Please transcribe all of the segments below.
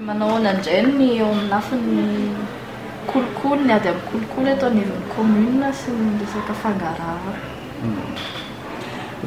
Manao ahoana indray ny eo amin'ny lafiny kolikoly, ny ady amin'ny kolikoly eto anivon'ny commune sy ny resaka fangarahana?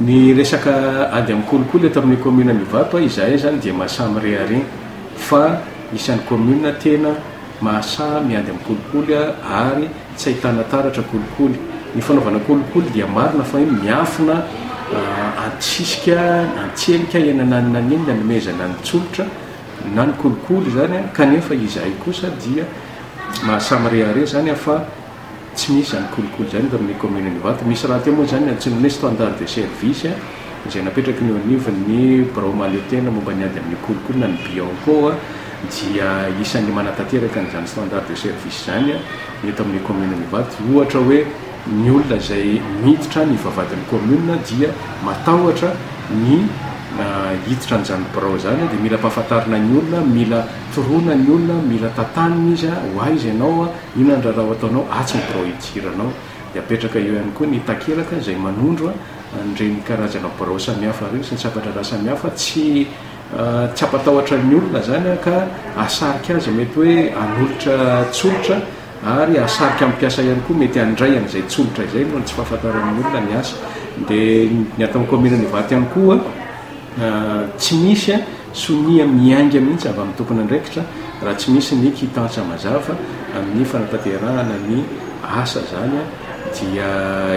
Ny resaka ady amin'ny kolikoly eto amin'ny commune an'Ivato, izahay izany dia mahasahy mirehareha fa isan'ny commune tena mahasahy miady amin'ny kolikoly ary. Tsy ahitana taratra kolikoly. Ny fanaovana kolikoly dia marina fa hoe miafina antsisika, antselika eny ananonany eny ny anomezana ny tsolotra na ny kolikoly izany kanefa izahay kosa dia mahasamy rehareha izany fa tsy misy izany kolikoly izany eto amin'ny commune-n'Ivato. Misy rahateo moa izany ny antsoina hoe standard de service. izay napetraky ny eo anivon'ny birao mahaleotena momba ny ady amin'ny kolikoly-na ny Bianco dia isan'ny manatanteraka an'izany standard de service izany eto amin'ny kaominina Ivato ohatra hoe ny olona izay miditra any Ivavadin'ny kaominina dia matahotra ny hiditra an'izany birao izany dia mila ampahafantarina ny olona mila toroana ny olona mila tantanina izy a ho aiza ianao a inona ny raharaha ho ataonao atsy ny birao hidiranao Dia apetraka eo ihany koa ny takelaka izay manondro an'ireny karazana birao samihafa ireny sy ny sampantrandraha samihafa. Tsy tsy hampatahotra ny olona izany ka hahasarika azy mety hoe hanolotra tsolotra ary hahasarika ny mpiasa ihany koa mety handray an'izay tsolotra izay noho ny tsy fahafantaran'ny olona ny asa. Dia ny ato amin'ny kaominin'Ivato ihany koa tsy misy Sonia miainga mihitsy avy amin'ny tompon'andraikitra raha tsy misy ny kitansa mazava amin'ny fanatanterahana ny asa izany dia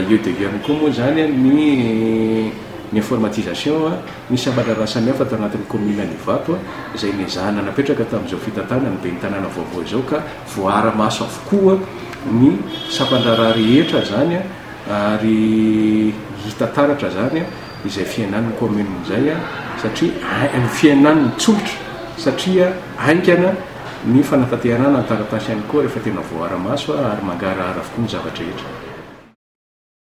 eo dia eo ihany koa moa izany ny ny informatisation ny sabatra raha samihafa tao anatin'ny kaominina Ivato izay nezahana napetraka tamin'izao fitantanan'ny ben'ny tanàna vaovao izao ka voaara-maso avokoa ny sampan-draharaha rehetra izany ary hita taratra izany izay fihenan'ny kaominina izay satria hain fihenan'ny tsolitra satria haingana ny fanatantehanana ny taratasy ihany koa rehefa tena voaara-maso ary mangarahara avokoa ny zava-drehetra.